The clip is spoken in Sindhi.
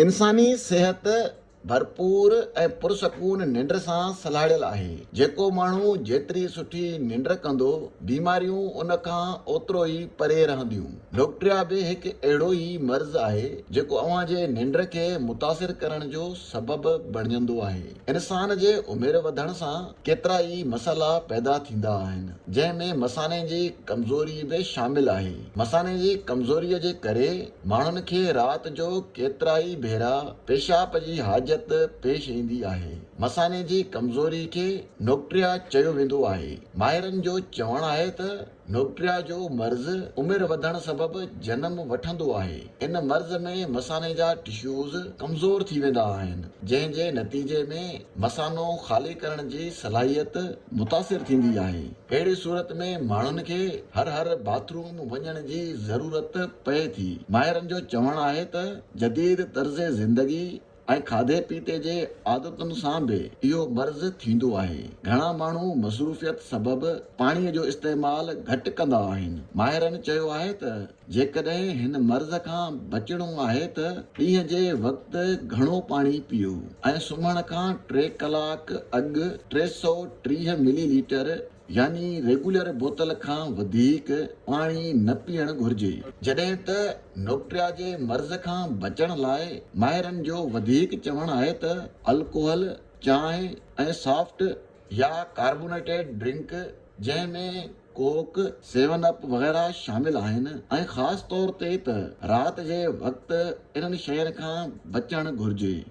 انساني صحت ڀرپور ۽ پرسڪون ننڊ سان سلهاڙيل آهي، جيڪو ماڻهو جيتري سٺي ننڊ ڪندو، بيماريون ان کان اوترو ئي پري رهنديون. لوڪٽريا به هڪ اهڙو ئي مرض آهي، جيڪو اوهان جي ننڊ کي متاثر ڪرڻ جو سبب بڻجندو آهي. انسان جي عمر وڌڻ سان ڪيترا ئي مسئلا پيدا ٿيندا آهن، جنهن ۾ مثاني جي ڪمزوري به شامل آهي. مثاني جي ڪمزوريء جي ڪري. ماڻهن کي رات جو ڪيترائي ڀيرا پيشاب جي حاجت پيش ايندي آهي. مثاني جي ڪمزوري کي نوڪٽريا چيو ويندو آهي. ماهرن جو چوڻ آهي ته نوڪٽريا جو مرض عمر وڌڻ سبب جنم وٺندو آهي. ان مرض ۾ مثاني جا ٽشوز ڪمزور ٿي ويندا آهن جنهن جي نتيجي ۾ مثانو خالي ڪرڻ جي صلاحيت متاثر ٿيندي آهي. اهڙي صورت ۾ ماڻهن کي هر هر باٿ روم وڃڻ جي ضرورت پئي ٿي. ماهرن جو چوڻ آهي ته جديد طرز زندگي ۽ کاڌي پيتي جي عادتن سان به اهو مرض ٿيندو آهي. گهڻا ماڻهو مصروفيت سبب پاڻي جو استعمال گهٽ ڪندا آهن. ماهرن چيو آهي ته جيڪڏهن هن مرض کان بچڻو آهي ته ڏينهن جي وقت گهڻو پاڻي پيئو ۽ سمهڻ کان ٽي ڪلاڪ اڳ ٽي سؤ ٽيهه ملي ليٽر يعني ريگولر بوتل کان وڌيڪ پاڻي نه پيئڻ گهرجي. جڏهن ته نوڪٽريا جي مرض کان بچڻ لاء ماهرن جو وڌيڪ چوڻ آهي ته الڪوهل، چانهه ۽ سافٽ يا ڪاربونيٽيڊ ڊرنڪ جنهن ۾ ڪوڪ، سيون اپ وغيره شامل آهن ۽ خاص طور تي ته رات جي وقت انهن شين کان بچڻ گهرجي.